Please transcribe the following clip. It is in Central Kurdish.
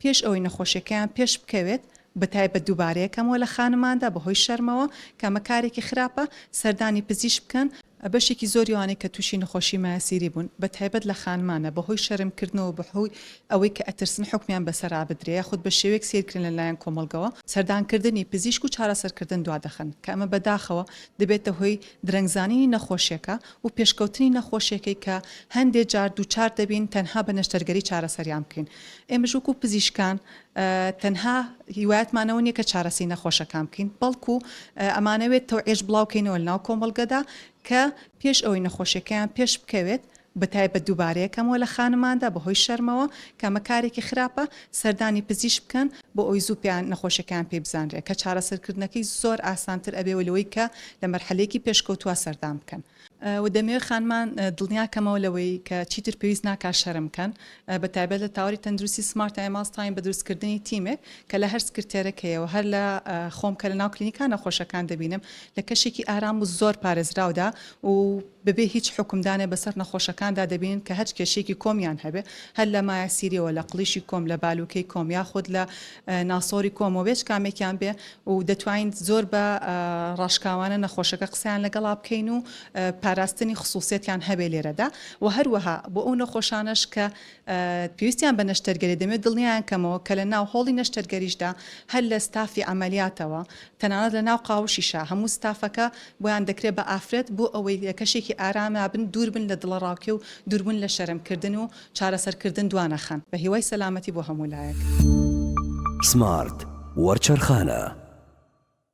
پێش ئەوەی نەخۆشیەکەیان پێش بکەوێت، بەتایبەت دووبارەیەکەمەوە لە خانماندا بەهۆی شەرمەوە، کە ئەمە کارێکی خراپە، سەردانی پزیشک بکەن، بەشێکی زۆری ئەوانەی کە تووشی نەخۆشی مایەسیری بوون بەتایبەت لە خانمانە بەهۆی شەرم کردنەوە بەهۆی ئەوەی کە ئەترسن حوکمیان بەسەرا بدرێ یاخود بە شێوەیەک سەیر کرێن لە لایەن کۆمەڵگەوە سەردان کردنی پزیشک و چارەسەر کردن دوا دەخەن کە ئەمە بەداخەوە دەبێتە هۆی درەنگ زانینی نەخۆشیەکە و پێشکەوتنی نەخۆشیەکەی کە هەندێ جار دووچار دەبین تەنها بە نەشتەرگەری چارەسەریان بکەین ئێمەش وەکو پزیشکان تەنها هیوایەتمان ئەوە نیە کە چارەسەی نەخۆشەکان بکەین بەڵکو ئەمانەوێت تەوعێش بڵاوکەینەوە لەناو کۆمەڵگەدا کە پێش ئەوەی نەخۆشیەکەیان پێش بکەوێت بە تایبەت دووبارەیەکەمەوە لە خانماندا بەهۆی شەرمەوە کەمە کارێکی خراپە سەردانی پزیش بکەن بۆ ئەوی زوو پێیان نەخۆشیەکان پێ بزانرێت کە چارەسەرکردنەکەی زۆر ئاسانتر ئەبێەوە لەوەی کە لە مەرحەلەیەکی پێشکەوتووە سەردان بکەن و دەمەوێت خانمان دڵنیا کەمەوە لەوەی کە چیتر پێویست ناکات شەرم بکەن بە تایبەت لە تاوەری تەندروستی سمارت ئایماس تاین بە دروستکردنی تیمێک کە لە هەر سکرتێرەکەیەوە هەر لە خۆم کە لە ناو کلینیکا نەخۆشەکان دەبینم لە کەشێکی ئارام و زۆر پارێزراودا و بەبێ هیچ حکومدانێ بەسەر نەخۆشەکاندا دەبینن کە هەچ کێشێکی کۆمیان هەبێ هەر لە مایەسیریەوە لە قڵیشی کۆم لە بالوکەی کۆم یاخود لە ناسۆری کۆمەوە بێچ کامێکیان بێ و دەتوانین زۆر بە ڕاشکاوانە نەخۆشەکە قسەیان لەگەڵا بکەین و پاراستنی خسوسیەتیان هەبێ لێرەدا وە هەروەها بۆ ئەو نەخۆشانەش کە پێویستیان بە نەشتەرگەری دەمێت دڵنیایان کەمەوە کە لە ناو هۆڵی نەشتەرگەریشدا هەر لە ستافی عەمەلیاتەوە تەنانەت لە ناو قاوشیشا هەموو ستافەکە بۆیان دەکرێت بە ئافرەت بۆ ئەوەی لە کەشێکی ئارامابن دووربن لە دڵەڕاوکێ و دووربوون لە شەرمکردن و چارەسەرکردن دوانەخەن. بە هیوای سەلامەتی بۆ هەموو لایەک. سمارت وەرچەرخانە.